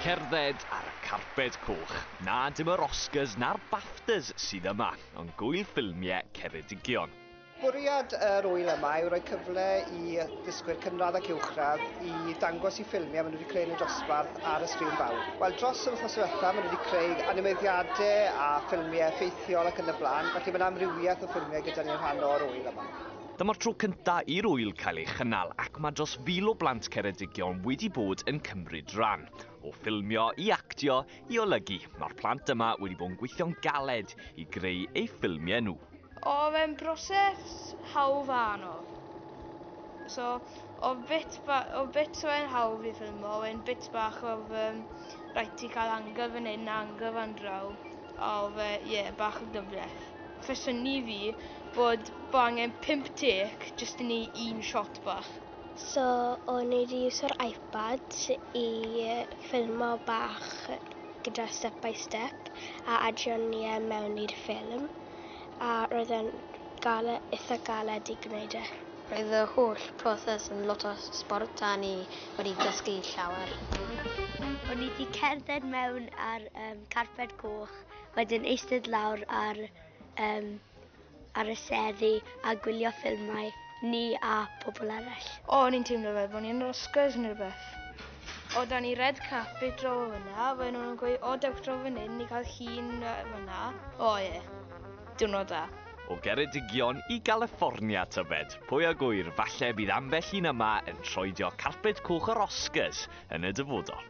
Cerdded ar y carped coch. Na, dim yr Oscars na'r Baftas sydd yma, ond gŵyl ffilmie Ceredigion. Bwriad yr ŵyl yma yw rhoi cyfle i ddysgwyr cynradd ac uwchradd i ddangos i ffilmiau maen nhw wedi creu yn y dosbarth ar y sgrin fawr. Wel, dros yr wythnos diwetha, maen nhw wedi creu animeiddiadau a ffilmiau effeithiol ac yn y blaen, felly mae'n amrywiaeth o ffilmiau gyda ni yn rhan o'r ŵyl yma. Dyma'r tro cyntaf i'r ŵyl cael ei chynnal ac mae dros fil o blant Ceredigion wedi bod yn cymryd rhan. O ffilmio i actio i olygu, mae'r plant yma wedi bod yn gweithio'n galed i greu eu ffilmiau nhw. Oedd e'n broses hawdd a anodd. So, oedd bit, oedd bits o e'n hawdd i ffilmo, oedd e'n bits bach oedd um, rhaid ti cael angl fan hyn a angl fan draw, a oedd e, ie, yeah, bach yn gyfleth. Fyswn i fi bod bo angen pump dec jyst i neu un shot bach. So o'n i di iwso'r iPad i ffilmo bach gyda step by step a adio ni e mewn i'r ffilm a roedd e'n gale- itha galed i gwneud e. Roedd y holl proses yn lot o sbort a ni wedi dysgu llawer. O'n i di cerdded mewn ar yym carped coch wedyn eistedd lawr ar, um, ar y seddi a gwylio ffilmau, ni a pobl arall. O, o'n i'n teimlo fel bod ni'n Oscars neu rhywbeth. O, da ni red carpet draw fyna, fe nhw'n gweud, o, dewch draw fan hyn, ni cael hun fyna. O, ie, yeah. diwrnod da. O Geredigion i Galiffornia, tybed? Pwy a gwyr, falle bydd ambell un yma yn troedio carpet coch yr Oscars yn y dyfodol.